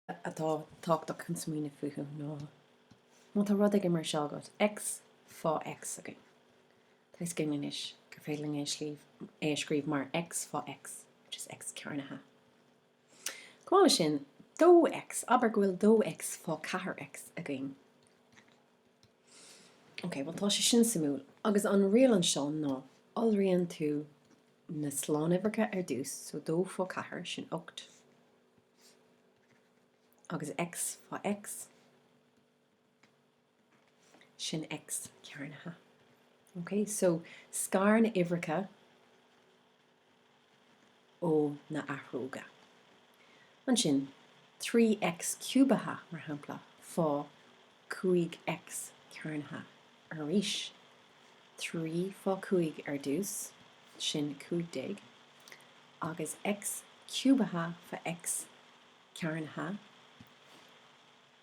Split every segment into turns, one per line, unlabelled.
atá tábhachtach chun smaoineamh fúthu ná má tá rud éigin mar seo agat, X, fá X againn. Tá tuiscint anois gur féidir linn é a scríobh mar X fá X, which is X cearnaithe. Chomh maith leis sin, dó X, abair go bhfuil dó X fá ceathair X againn. Ok, bhuel tá sé sin suimiúil. Agus an riail anseo ná iolraíonn tú na slánuimhreacha ar dtús, so dó fá ceathair, sin ocht, Agus X fá X, sin X cearnaithe. OK? So, scar na uimhreacha ó na athróga. Ansin, 3X ciúbaithe, mar shampla, fá cúig X cearnaithe arís. Trí fá cúig ar dtús, sin cúig déag, agus X ciúbaithe fa X cearnaithe,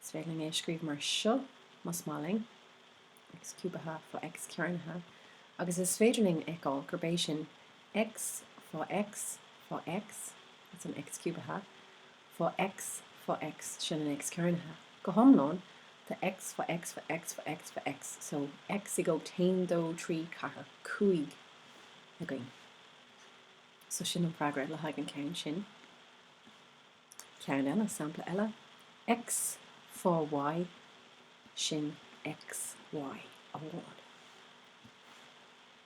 is féidir linn é a scríobh mar seo más maith linn, X ciúbaithe fa X cearnaithe, agus is féidir linn a fheiceáil gurb é sin X fá X fá X, sin an X ciúbaithe, fo x fo x sin an x cearnaithe go hiomlán tá x fo x fo x fo x fo x so x i gcumhacht 1 2 3 4 5 againn so sin an freagra le haghaidh an ceann sin ceann eile sampla eile x fo y sin x y amháin.